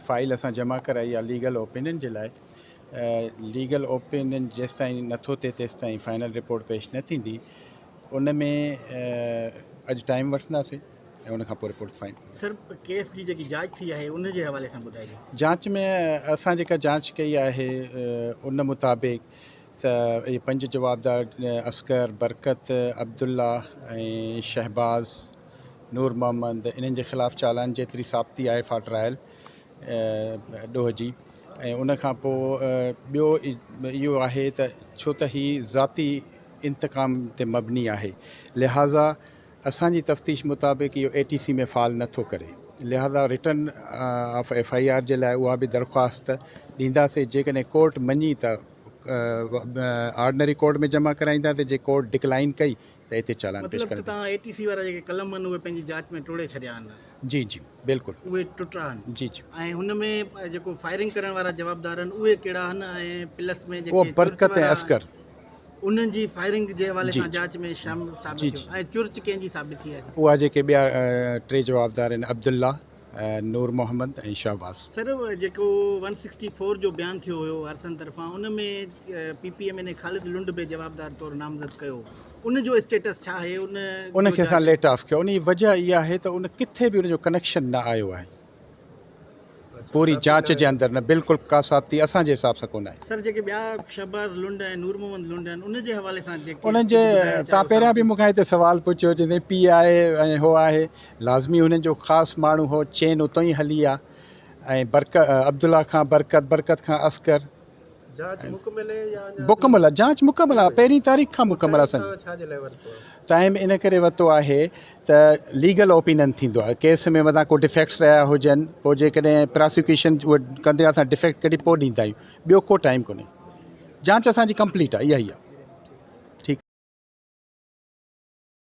File اسان جمع ڪرائي آ ليگل اوپينين جي لاء ليگل اوپينين جيستائين نٿو ٿئي تيستائين فائنل رپورٽ پيش نه ٿيندي ان ۾ اڄ ٽائيم وٺنداسي ۽ ان کان پوء رپورٽ فائن سر ڪيس جي جيڪي جاچ ٿي آهي ان جي حوالي سان ٻڌائي جاچ ۾ اسان جيڪا جاچ ڪئي آهي ان مطابق ته اهي پنج جوابدار اصغر، برڪت، عبدالله ۽ شهباز، نور محمد، انهن جي خلاف چالان جيتري ثابتي آهي فار ٽرائل ڏوهه جي ۽ ان کان پوء ٻيو اهو آهي ته ڇو ته هي ذاتي انتقام تي مبني آهي لهٰذا اسان جي تفتيش مطابق اهو اي ٽي سي ۾ فال نه ٿو ڪري لهٰذا return of F I R جي لاء اها به درخواست ڏينداسين جيڪڏهن ڪورٽ مڃي ته آرڊنري ڪورٽ ۾ جمع ڪرائيندا ته جي ڪورٽ ڊڪلائين ڪئي ته اتي چالان پيش ڪرڻ مطلب ته اي ٽي سي وارا جيڪي قلم آهن اهي پنهنجي جاچ ۾ ٽوڙي ڇڏيا آهن جي جي بلڪل اهي ٽٽا آهن جي جي ۽ هن ۾ جيڪو فائرنگ ڪرڻ وارا جوابدار آهن اهي ڪهڙا آهن ۽ پلس ۾ جيڪي برڪت ۽ عسڪر انهن جي فائرنگ جي حوالي سان جاچ ۾ شامل ثابت ٿيو ۽ چرچ ڪنهن جي ثابت ٿي آهي اها جيڪي ٻيا ٽي جوابدار آهن عبدالله نور محمد ۽ شهباز. سر جيڪو ون سڪسٽي فور جو بيان ٿيو هيو آرسن طرفان ان ۾ P P M N A Khalid Lund به جوابدار طور نامزد ڪيو ان جو اسٽيٽس ڇا آهي ان ان کي اسان ليٽ آف ڪيو ان جي وجه اها آهي ته ان ڪٿي به ان جو ڪنيڪشن نه آيو آهي پوري جاچ جي اندر نه بلڪل ڪا ثابتي اسان جي حساب سان ڪونه آهي سر جيڪي ٻيا شهباز لنڊ ۽ نور محمد لنڊ آهن ان جي حوالي سان جيڪي ان جي تان پهريان به مون کان هتي سوال پڇيو جي پي آء اي ۽ هو آهي لازمي هن جو خاص ماڻهو هو. چين اتو ئي هلي آ ۽ برڪ عبدالله کان برڪت، برڪت کان عسڪر. جاچ مڪمل هي يا اڃا. مڪمل آ جاچ مڪمل آ پهرين تاريخ کان مڪمل آ سائين. ٽائيم تان ڇا جي لاء ورتو آ؟ ٽائيم ان ڪري ورتو آهي ته ليگل اوپينن ٿيندو آ ڪيس ۾ متان ڪو ڊفيڪٽس رهيا هجن پو جيڪڏهن پراسيڪيوشن اهو ڪندي اسان ڊفيڪٽ ڪڍي پو ڏيندا آهيون ٻيو ڪو ٽائيم ڪونهي جاچ اسان جي ڪمپليٽ آ اها ئي آ.